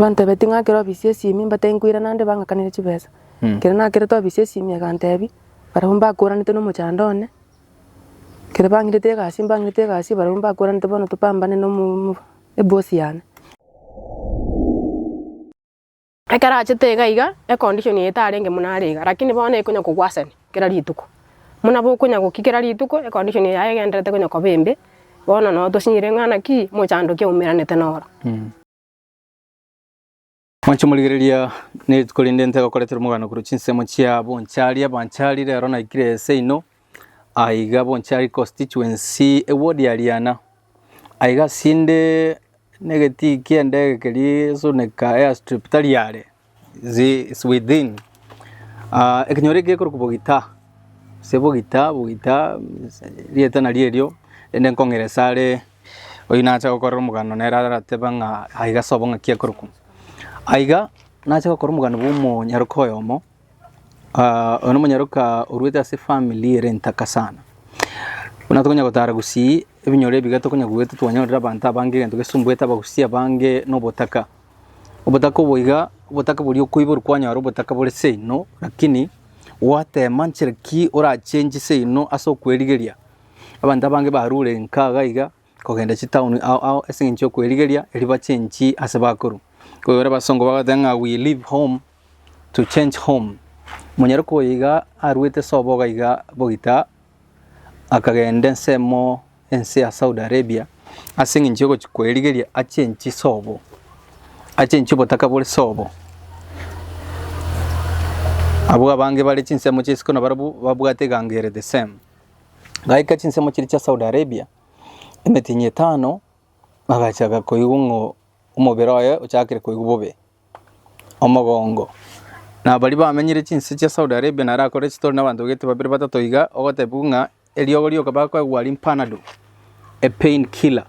Bantebetie ng'a ekero obisia esimi mbatebie nkoirana nde bang'akanere chibesa. Ekero nakerete obisia esimi egantebia barabwo mbakoranete na omochando one, ekero bang'irete egasi mbang'irete egasi barabwo mbakoranete bono topambane na omo- omo- eboss yane. Ekero achete iga iga, econdition eye tarenge muna are iga, lakini bono ekonya koworsen kera rituko. Muna bokonya goki kera rituko, econdition yaye egenderete konya koba embe, bono no tosinyire ng'a naki mochandoki aumeranete noro. Mwanche morigereria nerituko rinde ntegokoreterwa omogano korwa chinsemo chia bonchari abanchari rero naikire ase inwe Aiga bonchari constituency egw'odiariana. Aiga asinde negetii kiendege keria esuneka airstrip tari are is within ah ekenyoro eke gekorokwa bogita gose bogita bogita erieta nario erio rende nkong'eresa are oyio nacha gokorera omoganda nere arateba ng'a aiga sobo ng'aki ekorokwa. Aiga nache gokora omoganda bw'omonyaroka oyomo. Ah, oyo nomonyaroka oruete ase efamiri ere entaka sana. Buna tokonya gotara gusii ebinyoro ebiga tokonya goeta twanyorera abanto abange egento gesumbuete abagusii abange na obotaka. Obotaka obo iga, obotaka boria okoiborwa kwanyora obotaka bore seino, lakini gwatema nchera ki orachengi seino ase okwerigeria. Abanto abange barure enka iga iga. kogenda chitaoni ao ao ase engencho y'okwerigeria erio bachenchi ase bakoru. Koigwera abasongo bagoteba ng'a we leave home to change home. Monyaroki oyo iga aruete soboga iga bogita akagenda ensemo ense ya Saudi Arabia ase engencho y'ogochia kwerigeria achenchi sobo, achenchi obotaka bore sobo. Abwo abange bare chinsemo chie isiko nabarabwo babwate egango ere the same. Gaika chinsemo chiria chia Saudi Arabia, emetinyi etano, bagachaga koigwa ng'o omobere oye ochakire koigwa bobe, omogongo. Na baria bamenyire chinse chia Saudi Arabia naro akore chitori na abanto gete babere batato iga, ogotebiwa ng'a eriogo rioka bakoegwa aria panadol, a pain killer,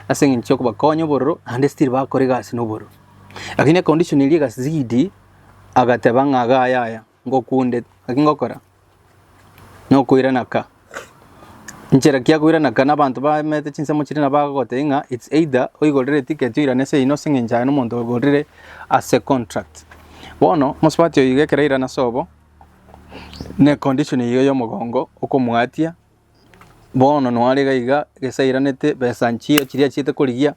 ase eng'encho ya kobakonya obororo naende still bakora egasi na obororo. Lakini econdition eria egazidi, agateba ng'a iga yaya, ngokunde, naki ngokora nokoirana ka. Nchera ki yakoirana ka? Nabanto baemete chinsemo chiria nabo bagogotebia ng'a it's either oigorere etiketi oirane ase eyio nase eng'encho aye nomonto oigorire ase contract. Bono mosubati oyo iga ekero airana ase obo, na econdition eyio ya omogongo okomoatia, bono nwarigaiga gese airanete besa nchie chiria achiete korigia,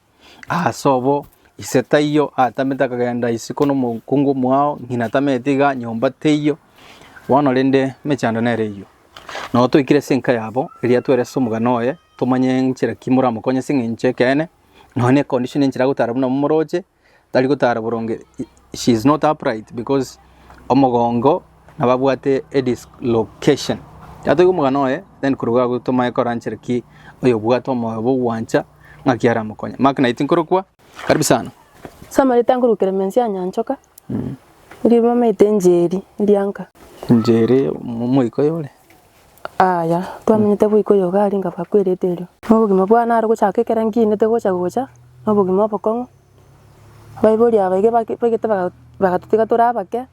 Aase obo, ise taiyo atamete akagenda isiko nomokungu omwao, ng'ina tamete iga, nyomba teiyo, bono rende emechando nere eyio. Nao toikire ase enka yabo, eria twere ase omogano oye, tomanye nchera ki moramokonye ase eng'encho ekeene, nonya ne condition enchera agotaara buna abamoroche, tari gotara boronge she is not upright because omogongo nabo abwate a dislocation. Tatoiga omogana oye then korwa iga tomae koranchere ki oyo obwate omoyo bogwancha ng'aki aramokonye. Mark naye tinkorokwa. Karibu sana. Ase amarita nkorwa Clemensia Anyanchoka, erio bamaete Njeri erianka. Njeri omoikoyo ore? Aya, twamenyete boikoyo iga aria nkabakwera eterio. Obogima bwane are gochaka ekero nkinete gocha gocha, nobogima obokong'u, Abaibori aba iga bake baigete baga bagatotiga tore abake,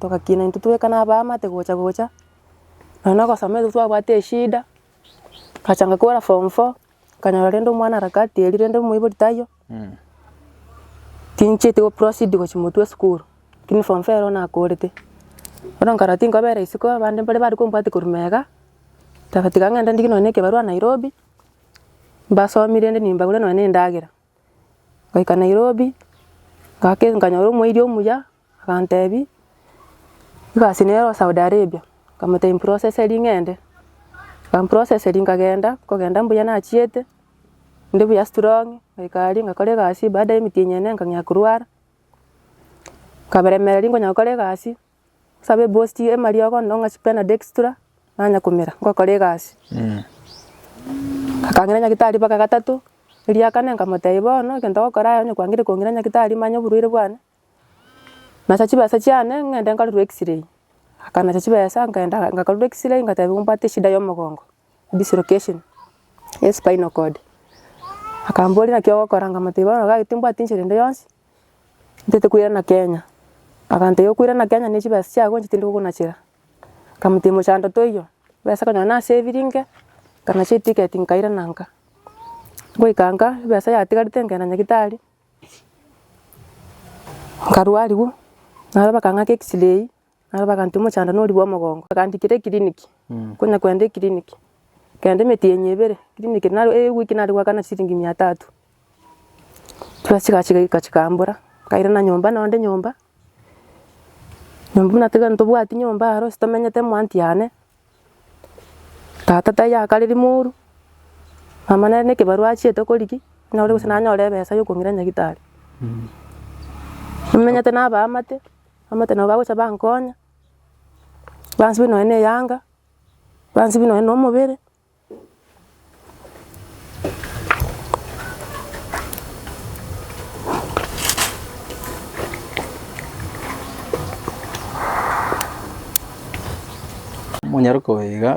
togakina intwe tobeka na abaamate gocha gocha, nonya na ogosoma ekero twabwate eshida, ngachanga kogora form four, nkanyora rende omwana harakati eria rende omoibori taiyo, tinchieti goproceed gochia motwe esukuru, lakini form four ero nakorete. Bono nkarora tinkobera isiko, abande mbare bare kombwati korwa mega, togatiga ng'ende ndigie nonya na ekebarwa Nairobi, mbasomie rende nimbagure nonya na endagera. Ngoika Nairobi, ngake nkanyora omoerio omuya, akantebi, egasi nere o Saudi Arabia, nkamotebia improseseri ng'ende, akamproseseri nkagenda, nkogenda mbuya nachiete, inde buya strong, ngoika aria ngakora egasi, baada ya emiti enyene nkang'ea korwara, nkaberemera riria nkonya gokora egasi, Nsabe eboost ye emariogo onde ong'achi pen na dextra nanya komera ngokora egasi. Akang'ira nyagitari mpaka gatato, eria kane nkamotebia bono egento ogokora aye onye kwangire kong'ira nyagitari manye oborwaire bwane, nacha chibesa chiane ng'ende nkarorwe x-ray. Akanacha chibesa nkagenda ngakarorwa x-ray ngatebiwa mbwate eshida ya omogongo, dislocation ya espinal cord. Akamboria naki ogokora nkamotebia bono iga timbwati enchera ende yonsi, Ntete koirana Kenya. Agantebia okoirana Kenya ne chibesa chiago inche tindi kogonachera. Nkamotebia mochando toiyo, ebesa konya nonye nasaviri inke, nkanacha eticket nkairana nka. Ngoika nka, ebesa yatigarete nkagenda nyagitari, nkarwa arigwe, nabo bakang'aka x-ray. Naro bagantebia, Omochandani oria bw'omogongo. Bagandikera ekiriniki, konya kogenda ekiriniki, kogenda emetienyi ebere ekiriniki, naro ewiki nare goakana chisiringi mia tatu. Chibesa chigacha chigachika chikambora, nkairana nyomba nao nde nyomba, nyomba buna tiga ntobwati nyomba aro ase tomenyete mwanti yane. Tata taiyo akareri moru, mama nere nekebarua achiete koriki, buna ore gose nanyore ebesa ya okong'ira nyagitari. Nimenyete na abaamate, abaamate nabo bagocha bankonya, bansibia nonya na eyanga, bansibia nonya na omobere, Omonyaroka oyo iga,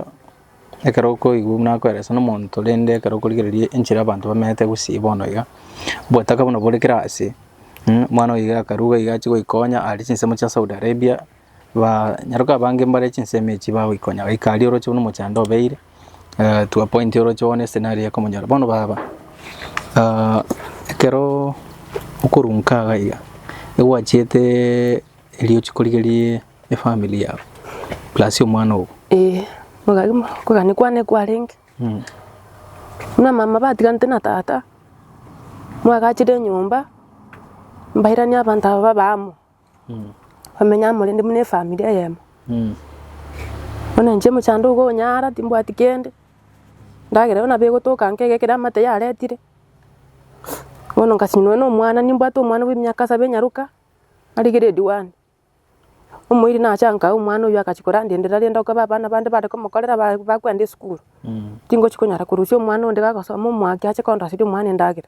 ekero okoigwa buna akoeresa nomonto rende ekero okorigereria enchera abanto bamenyete gusii bono iga, obotaka buna bore kera ase, omwana oyo iga akarwa iga achigoikonya are chinsemo chia Saudi Arabia. Baa nyaroka abange mbare chinsemo echi bagoikonya goika aria oroche buna omochando obeire eh, to a point oroche one scenario ya komonyora bono baba ah, ekero okorunka iga iga egwachiete erio ochie korigerie efamily yao plus omwana ogo Eh, okagima okogani kwane kwarenge. Mm. Buna mama batiganete na tata, mwagachire enyomba, mbairanie abanto aba babe amo. Bamenya amo rende buna efamiri eyemo. Bono inche omochando ogo onyara timbwati kende, endagera ero nabo egotoka nka egekire amate yaretire. Bono nkasinwa na omwana, nimbwate omwana bwa emiaka saba enyaroka, are grade one. Omoiri nacha nkae omwana oyio agachia korandendera rende okoba abana bande bare komokorera ba- bakwenda esukuru. Tingochi konyara korusia omwana onde gagosoma omwake ache kondoseria omwana endagera.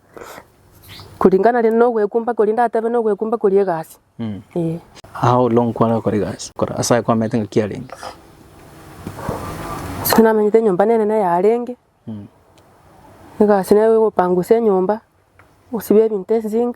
Kuringana rende nogwekumba koria ndatebe nogwekumba koria egasi. Ee. Ao olo nkwane gokora egasi, kora ase aye kwamanyete ng'a ki arenge. Ase ayio namanyete enyomba nene neye arenge, egasi neye egopangusa enyomba, gosiba ebinto esink,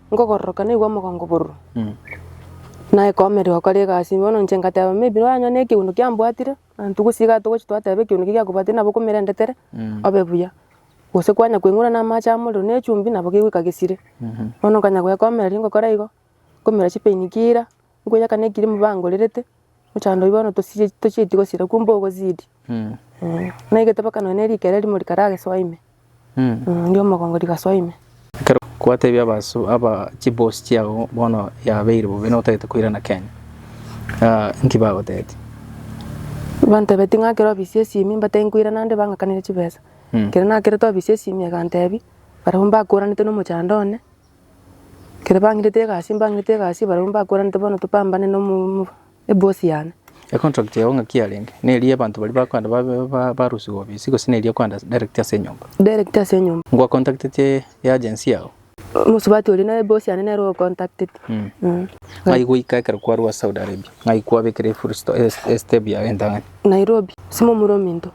ngogororoka naigwe omogongo bororo, na ekoomere gokora egasi. Bono inche ngateba, maybe nonya nonya nekegundo kiambwatire, abanto gose iga togochi twateba ekegundo ki giakobwatire nabo okomerendetere obe buya. Gose kwanya koing'ura na amache amorero na echumbi nabo kegoika gesire. Bono nkanya goekomereria ngokora igo, nkomera chipain kira. Nkoyakana ekiri mobangorerete mochando oyio bono tosirie tochieti gosira kwo mbogozidi. Na egetebekano ne rikere rimo rikaragesoa ime. Ria omogongo rigasoa ime. Ekero kwatebia abaso aba chibosi chiago bono yabeire bobe na otagete koirana Kenya, inki bagotebeti? Bantebeti ng'a ekero obisia esimi mbatebia nkoirana ande bang'akanere chibesa. Ekero nakerete obisia esimi egantebia barabwo mbakoranete na omochando one. Ekero bang'irete egasi mbang'irete egasi barabwo mbakoranete bono topambane na omo- omo eboss yane. Econtract yago ng'aki yarenge? Neri y'abanto baria bakwenda babe ba- barusiwe obisi gose neri okwenda ase direct ase enyomba? Direct ase enyomba. Ngwacontacteti y'agency yao? Omosubati oria na eboss yane nere ocontacteti. Mm. Mm. Ng'ai goika ekero kwarua ase Saudi Arabia? Ng'ai kwabekire efull sto- es- estep yago entang'ani? Nairobi, simomurominto.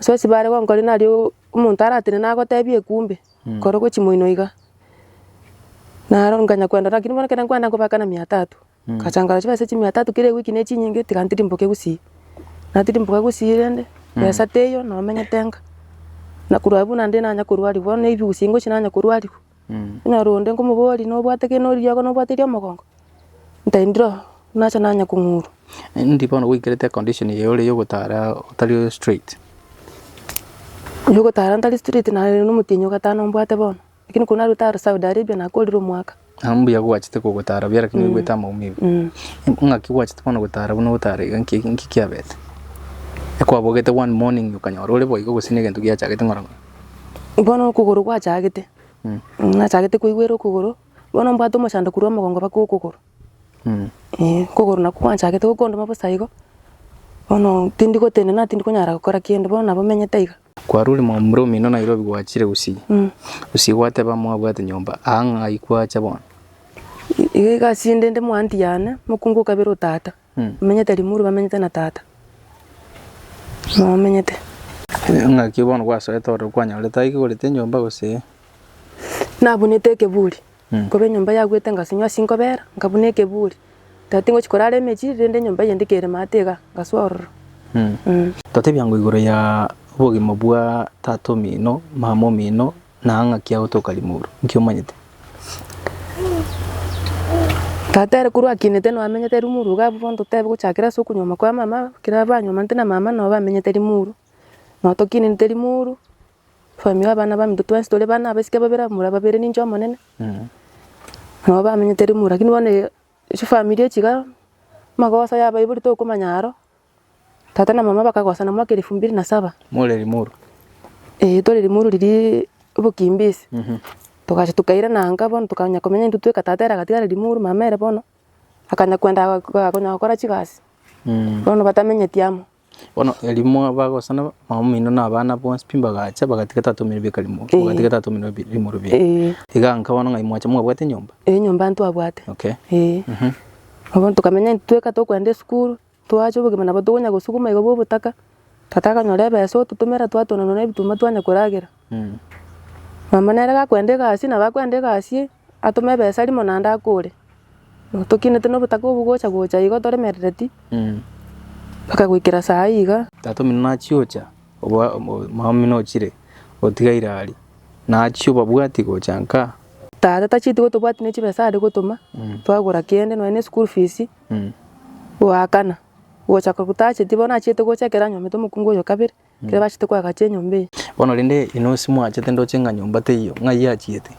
Ase ase bare gonkori nari o- omonto aratinde nagotebie ekumbe, kore gwe chimoino iga. Naro nkanya kwenda lakini bono ekero nkwenda nkobeka na mia tatu. Nkacha nkarora chibesa echi mia tatu kera ewiki ne chinyinge tiga ntirimboke gusii. Natirimboka gusii rende, besa teiyo nomenyete nka. Na korwa abwo naende nanya korwariwa, bono ne ebiusi ngochia nanya korwariwa. Onyore onde nkomoboria nobwate kende nori riago nobwate ria omogongo, ntaindire oo, nache nanye kong'urwa. Endi bono goikerete econdition eye ore ya ogotara otari straight. Oyo ogotara ntari straight nare na omotienyi ogatana ombwate bono, lakini korwa narwete aro Saudi Arabia nakorire omwaka. Nabo mbuya gwachete kogotara buya lakini oigwete amaumigo. Ng'aki gwachete bono gotara buna ogotara iga nki nki kiabete? Ekwabogete one morning okanyora ore boigo gose na egento giachagete ng'orong'oro. bono okogoro gwachagete, nachagete koigwera okogoro, bono mbwate omochando korwa omogongo mpaka okogoro, eh, okogoro nakwo kwanchagete gokondoma bosa igo, bono tindi gotenena tindi konyara gokora kende, bono nabo menyete aiga. Kwarure mwaumire omino Nairobi gwachire gusii, gusii gwateba mwabwate nyomba aa ng'ai kwacha bono? Iga egasi ende inde mwaanti yane, mokungu o kabere o tata. Bamenyete rimuru, bamenyete na Tata momenyete. Ng'aki bono gwasoete ore okwanyorete aye kegorete enyomba gose? Nabunete ekeburi, nkoba enyomba yagwete ngasenywa ase inkobera, nkabuna ekeburi. Tari tingochi korara emechie iri rende enyomba eyende kere maate iga, ngasoa ororo. Totebia ng'o igoro ya obogima bwa tata omino, mama omino, Na ng'aki agotoka rimuru, nki omanyete? Tata ere korwa akinete no amenyete rimuru iga abwo bondo totebi gochakera ase okonyuoma kwa mama ekero banyomanete na mama no bamenyete rimuru. No tokinenete rimuru family abana baminto twensi tore bana abasike babere abamura babere ninche omonene. No bamenyete rimuru lakini bono chifamiri echi iga magoso yabaibori tokomanya aro. Tata na mama bakagosana mwaka elifu mbili na saba. More limuru? Ee, tore limuru riria obokimbisi. Togacha tokairana anga bono tokanya komenya intwe tweka tata ere agatigara limuru mama ere bono akanya kwenda konya gokora chigasi. Bono batamenyeti amo. Bono erio mwabagosana mamamino na abana bonsi pi mbagacha bagatiga tata omino beka limuru, bagatiga tata omino limuru beka. Ee. Iga nka bono ng'ai mwacha mwabwate enyomba? Ee, enyomba ntwabwate. Okay. Ee. Bono tokamenya intwe tweka tokwenda esukuru. Twacha obogima nabo tokonya gosuguma iga bw'obotaka, tata akanyora ebesa ototomera twatonanwa na ebituma twanya koragera. Mama nere gakwenda egasi nabo akwenda egasi atome ebesa rimo naende akore. Tokinete na obotaka obwo gocha gocha igo toremerereti mpaka goikera saa hii iga. Tata omino nachia gocha mama omino ochire otigaire aria nachia obabwati gocha nkaa. Tata tacheti gotobwati ne chibesa are gotoma twagora kende nonya ne school fees. Goakana, gocha ko gotacheti, bono nachiete gocha ekero anyomete omokungu oyo kabere, ekero bachete koagacha enyomba eye. Bono rende inwe ase mwachete ndoche ng'a nyomba teiyo, ng'ai yachiete?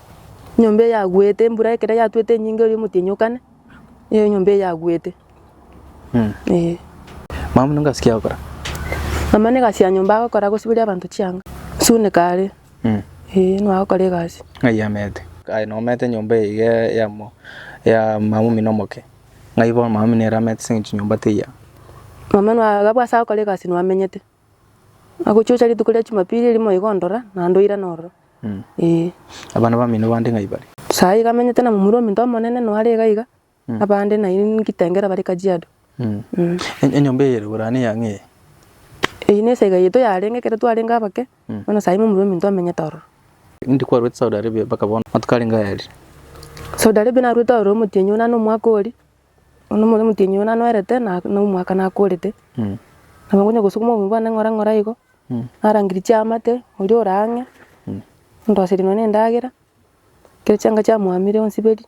Enyomba eye yaguete, embura ekero yatuete enyinge erio omotienyi okane, nigo enyomba eye yaguete. Ee. Mama buna engasi kiagokora? Mama buna egasi ya nyomba agokora, agosiberia abanto chianga, gosuneka are. Ee, nagokora egasi. Ng'ai amete? Aye nomete nyomba eye iga eyemo ya mama omino omoke. Ng'ai bono mama omino ere amete ase eng'encho nyomba teyao? Mama noa abwo ase agokora egasi noamenyete. Agochia gocha rituko ria Jumapili erimo iga ondora, naende oirana ororo. Ee. Abana bamino bande ng'ai bare? Sayi iga amenyete na momura ominto omonene noare iga iga. Abande na inwe ngitengera bare Kajiado. Enyomba eye ere Borana eya ng'ee? Eye ne esege yaito yarenge ekero twarenge abake, bono saimo omorweri ominto amenyete ororo. Indi kwarwete Saudi Arabia mpaka bono? Matuko arenge aya eri? Saudi Arabia narwete ororo omotienyi one na omwaka ori, bono omorweri omotienyi one anoerete na na omwaka nakorete. Nabo nkonya gosukuma obonto bwane ng'ora ng'ora igo, narangeria chiamate, oria ore ang'e, ondoserie nonye ne endagera, ekero chianga chiamoamire onsiberie.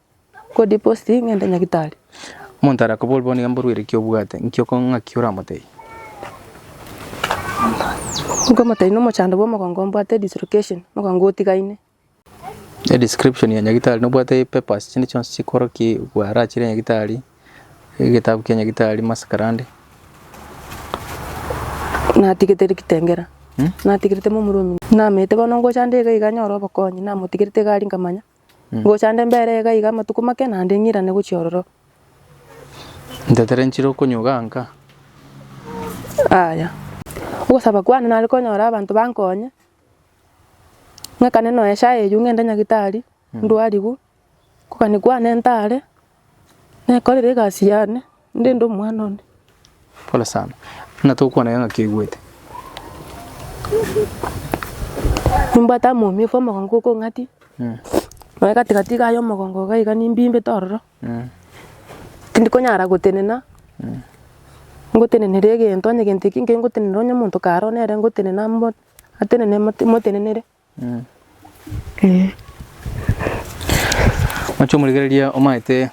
Omonto are koborwe bono nigo mborwe ere ki obwate, nki oko ng'aki oramotebie? Edescription ya nyagitari nobwate papers chinde chionsi chikoroki bwarachire nyagitari, egetabu kia nyagitari, masakarande. Ngocha nde mbere iga iga amatuko make, naende ng'irane gochia ororo. Ntetere nchire okonyuga nka. Aya. Ogosaba kwane nare konyore abanto bankonye, ng'akane noe esaa eyio ng'ende nyagitari, ndwarigwe. Okogania kwane ntare, Nekorire egasi y'ane, ndende omwana one. Pole sana. Buna togokwana iga ng'aki oigwete. Nimbwate amo omioka omogongo oko ong'ati, nonya gati gati iga y'omogongo iga iga nimbimbete ororo, tindi konyara gotenena, ngotenenere egento, onye egento ekio nkere ngotenenere onye omonto kare oo nere ngotenena amo, atenene motenenere. Oche omorigereria omanyete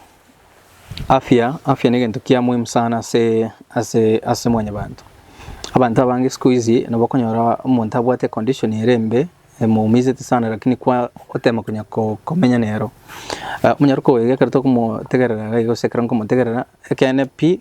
afya, afya negento kia muhimu sana ase ase ase mwanyabanto. Abanto abange sikuizi nabo okonyora omonto abwate condition ere embe emoumisetie sana lakini kwa otema konya ko komenya nero. Onyare koewa ekero tokomotegerera iga igo gose ekero nkomotegerera ekeene pi.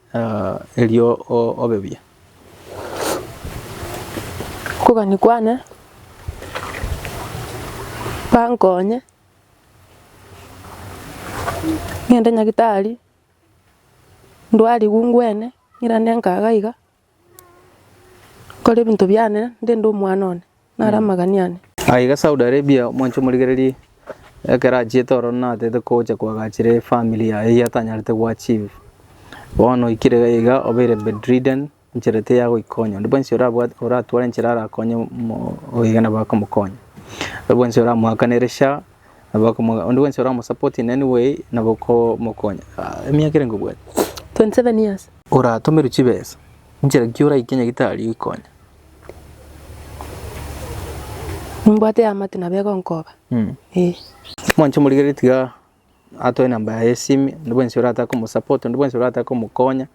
erio obe buya. Okogania kwane kwankonye ng'ende nyagitari ndwarigwe ngwene ng'irane nkaga iga. Nkore ebinto biane ndende omwana one, nare amagani ane. Aiga Saudi Arabia omwanche omorigererie ekero achiete oro natete kocha koagachera efamiri yaye eyio atanyarete goachieve. Bono oikire iga obeire bedridden enchera ete ya goikonya onde bwensi orabwate oratware enchera arakonye omo oiga nabo akomokonya. Onde bwensi oramoakanere SHA. Nabo bakamoga, Onde bwensi oramosapotie nere nigo ee, nabo okomokonya. Ah, Emiaka ere ngobwate. 27 years. Oratomerwe chibesa, inchera ki oraike nyagitari oikonya? Nimbwate eamate nabo egonkoba. Mm. Eh. Mwanche omorigererie tiga atoe enamba yaye y'esimi, onde bwensi orataka omosupport, onde bwensi orataka omokonya,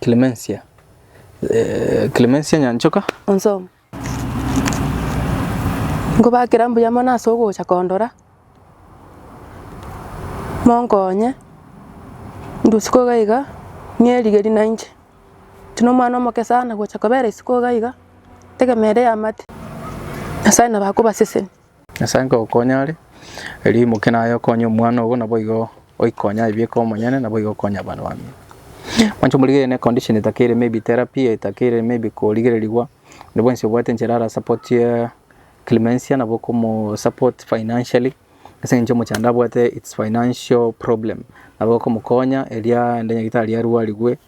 Clemencia, eh, Clemencia Nyanchoka. Onsomo. Nkobakera mbuya mono ase ogocha kondora, monkonye ndusiko iga iga ng'erigeri nainche. Inche na omwana omoke sana gocha kobera isiko iga iga, ntegemeire eamate, Nyasae nabo akobaseseni. Nyasae nkogokonya are, erio imoke naye okonye omwana obo, naboigo oikonya aye bieka omonyene, naboigo okonya abana bamino. Mwanche omorigereria ne condition etakeire maybe therapy, etakeire maybe korigererigwa, onde bwensi obwate enchera ara support ye Clemencia nabo okomo support financially, ase eng'encho omochando onde abwate its financial problem, nabo okomokonya eria aende nyagitari arwarigwe,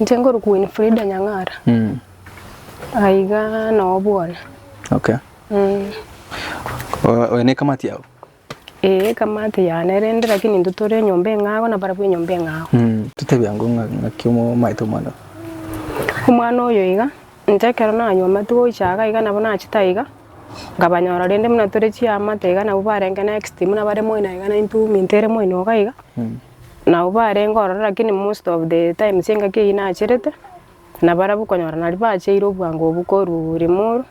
Inche nkore Winfrida Nyang'ara. Mm. Aiga noo bwana. Okay. Mm. Oyo ne kamati yao? Ee, kamati yane rende lakini nto tore enyomba eng'ago na barabwo enyomba eng'ago. Mm. Tutebia ngo ng'aki omaete omwana. Omwana oyo iga inche ekero nanywa amatugo gocha iga iga nabo nachete iga nkabanyora rende buna tore chiamate iga nabo barenge next buna bare moino iga na intwe minto ere moino iga. Nao barenge ororo lakini most of the times engaki eyio nacherete, na barabwo okonyora nari bacheire obwango obwo korwa Limuru,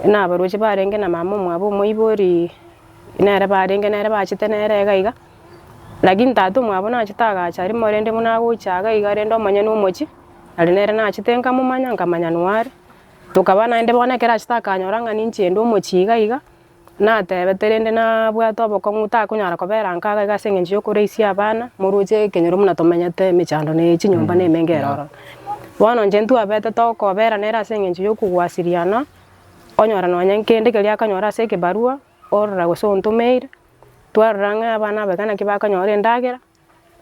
buna abarochi barenge na mama omwabo omoibori nere barenge nere bachete nere iga iga, lakini tata omwabo nachete agacha rimo rende buna agocha iga iga rende omonyene omochie, nari nere nachete nkamomanya nkamanya noyo are, tokaba naende bono ekero achete akanyora ng'a ninche ende omochie iga iga. Natebete, rende nabwate obokong'u, takonyara kobera nka gaiga ase engencho y'okoreisia abana, moroche ekenyoro buna tomenyete emechando ne chinyomba nemenge ere ororo. Bono inche ntwabete tokobera nere ase engencho y'okogwasiriana, onyora nonya kende keria akanyora ase ekebarua orora gose ontomeire, twarora ng'a abana abaga naki bakanyora endagera,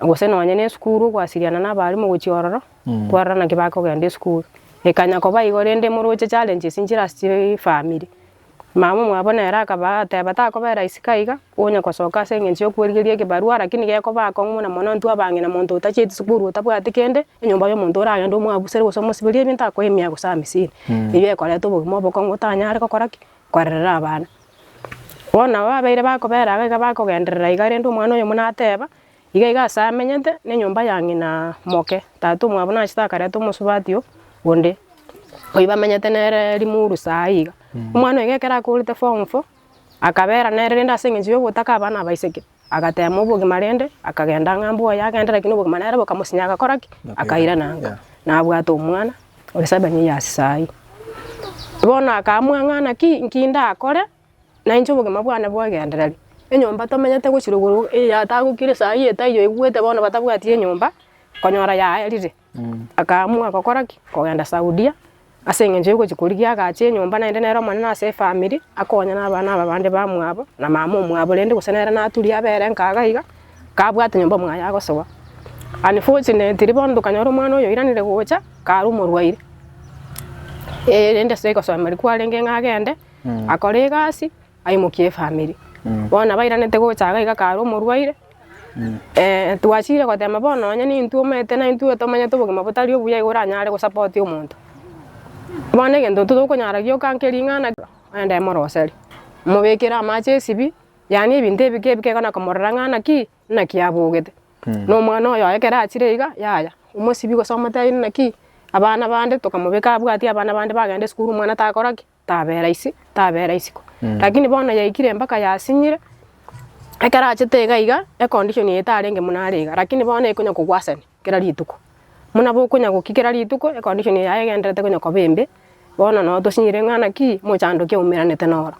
gose nonye ne esukuru gwasiriana na abaalimu gochia ororo Mm. kwarora naki bakogenda esukuru ekanya koba igo rende moroche challenges nchire ase chi family mama mwabo nere akaba ateba takoba rahisi ka iga onye gosoka ase eng'encho ya okworigeria ekebarua lakini gekoba akong'u muna mono intwe abang'ina omonto otacheti sukuru otabwati kende enyomba ya omonto oragende omwabusere gose omosiberie ebinto akoe emia gose amisini eyio ekoreta obogima obokong'u otanyare gokora ki korerera abana Bono nabo babeire bakobera iga iga bakogenderera iga rende omwana oyomo nateba, Iga iga ase amenyete nenyomba ya ng'ina moke, tata omwabo nachete akareta omosubati oo onde, oyio bamenyete nere rimuru saii iga. Omwana oyo ekero akourete form four, akabera nere rende ase eng'encho ya ogotaka abana abaiseke, Agateema obogima rende, akagenda ng'a mbwa oye agende, lakini obogima nere bokamosinya agakora ki? Akairana ng'a nabwate omwana ore seven years saii. Bono akaamua ng'a naki inki ndakore nainche obogima bwane bwegenderere. Enyomba tomenyete gochia rogoro, eyatagokire saii etaiyo oigwete bono batabwati enyomba, konyora yaerire. Akaamua gokora ki? Kogenda Saudia, ase engencho y'ogochia korigia agache enyomba naende nere omonene ase efamiri, akonya nabana aba bande bamwabo, na mama omwabo rende gose nere naturia abe ere nka iga iga, kabwate nyomba mwaye agosoa. Unfortunately bono tokanyora omwana oyo oiranire gocha, kare omorwaire. Rende ase ogosoa emeeri kwarenge ng'a agende, akore egasi. Aimokie efamiri. Bono nabairanete gocha iga iga kare omorwaire, twachire goteema bono onye nintwe omanyete na intwe tomanyete obogima botari obuya igo oranyare gosapotia omonto. Bono egento tokonyara gioka nke ring'ana ogende moroserie, mobekere amache esibie, yaani ebinto ebike ebike iga na komorora ng'a naki naki abogete. Na omwana oyo ekero achire iga yaya, omosibie gose omotebi naki abana bande tokamobeka abwatie abana bande bagende esukuru omwana takora ki? Tabera isi, tabera isiko. Lakini bono yaikire mpaka yasinyire, ekero achete iga iga, econdition eye tarenge buna are iga, lakini bono ekonya kogwasani kera rituko. Buna bokonya goki kera rituko, econdition eye yaye egenderete konya koba embe, bono nabo tosinyire ng'a naki, mochando ki oumeranete noro.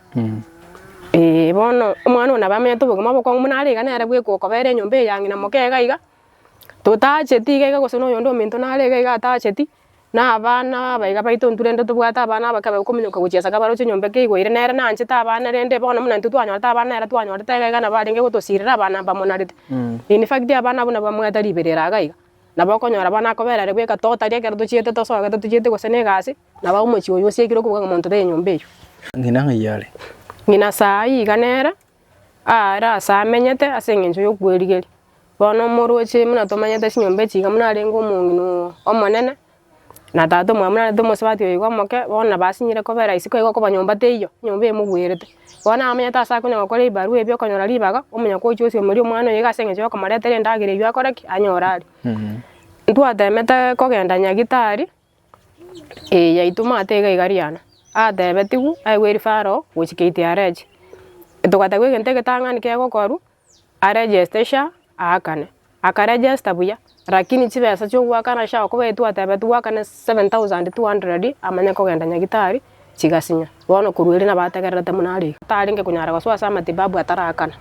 Eeh bono omwana oyo nabo amenyete obogima obokong'u buna are iga nere bwe gokobera enyomba eye ya ng'ina moke iga iga, totacheti iga iga gose noyonde ominto nare iga iga atacheti. na abana abaiga baito intwe rende tobwate abana abake ababe kominyoka gochia ase kabaroche enyomba eke igo ere nere nanchete abana rende bono buna intwe twanyorete abana ere twanyorete iga iga nabo arenge gotosirera abana mbamonarete. In fact abana abwo nabo bamwete riberera iga iga, nabo okonyora bono akoberire bweka totari ekero tochiete tosogete tochiete gose na egasi nabo omochie oyo osiekire okobuga ng'a monto tari enyomba eywo. Ng'ina ng'ai are? Ng'ina saa iga nere. aare ase amenyete ase engencho yokwerigeria. Bono omoroche buna tomanyete chinyomba echi iga buna arenge omong'ina omonene, na tata omwabo buna arenge omosubati oyoigo omoke, bono nabo asinyire koba rahisi koba igo nyomba teiyo, nyomba emogwerete. Bono nabo amenyete ase akonya gokora ebibarua ebi okonyora ribaga, omonye gocha osiomoria omwana oyoigo ase engencho yokomoretera endagera eywo akore ki? anyore are. Ntwatemete kogenda Nyagetari. Ee, yaitwa omwate iga iga Riana. Atebetigwe aigwe eri Faro gochika iti areche. Togateba egento egetang'ani kegokoru, aregeste SHA aakane. Akaregesta buya, rakini chibesa chio goakana SHA okobaitu atebetigwe akane seven thousand two hundred amanye kogenda nyagitari chigasinya. Bono korwa erio nabategererete buna are iga. Atarenge konyara gosoa ase amatibabu atarakana.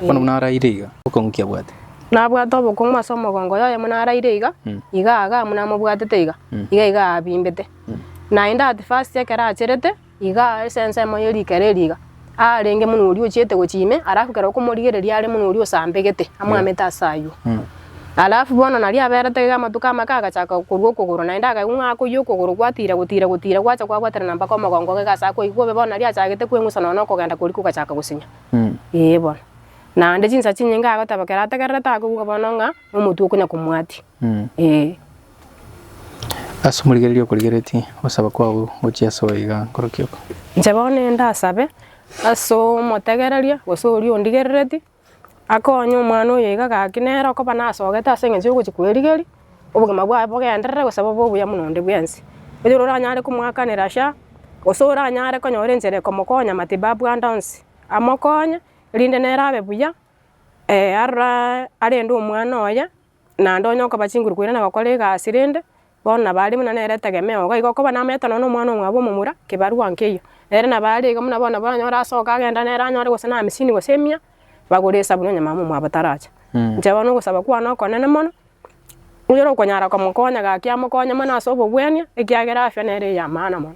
Bono buna araire iga, obokong'u ki abwate? Nabwate obokong'u ase omogongo oye oye buna araire iga, iga aga buna amobwatete iga, iga iga abimbete. Naende at first ekero acherete, iga ase ensemo ye rikera eri iga. aarenge mono oria ochiete gochia ime, alafu kera okomorigereria are mono oria osambegete, amwamete ase aywo. Alafu bono nario aberete iga amatuko amake agachaka korwa okogoro, naende akaigwa ng'a akoyia okogoro gwatiira gotiira gotiira gwacha kwagwatera na mpaka omogongo iga ase akoigwa bobe bono nario achagete kweng'usa nonya na okogenda koria kogachaka gosinya. Ee bono. Naende chinsa chinyinge agoteba kera ategererete akoigwa bono ng'a omotwe okonya komwatia. Ee. Ase omorigereria okorigeretie, ogosaba kwao gochie ase oyo iga nkorokia oko. Inche bono nende asabe ase omotegereria gose oria ondigerereti, akonye omwana oyo iga gaki nere okoba nasogete ase eng'encho yogochia kwerigeria, obogima bwaye bogenderere gose bobe obuya buna onde bwensi. Oyore oranyare komoakanera sha, gose oranyare konyora enchera ekomokonya matibabu ande onsi, amokonye erinde nere abe buya aroro arende omwana oye Naende onye okoba chinguru koirana gokora egasi rende, bono nabo are buna nere etegemeo iga iga okoba namaete nonya na omwana omwabo omomura kibarua nkeiyo. Nere nabo are iga buna bono oranyore asoke agenda nere anyore gose na hamisini gose emia, bagore esabuni onye mama omwabo tarache. Inche bono ogosaba kwane okonene mono, oyore okonyara komokonya gaki amokonye mono ase obobwania, ekiagera afya nere ey'amaana mono.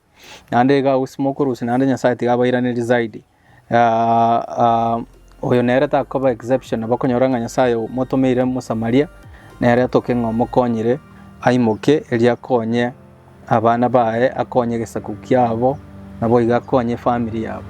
naende iga agosimoka orosio naende Nyasae tiga abairanerie zaidi. Ah, ah, oyo nere takoba exception, bakonyora ng'a Nyasae omotomeire Mosamaria, nere atoke ng'a omokonyire aimoke erio akonye abana baye, akonye egesaku kiabo, naboigo akonye efamiri yabo.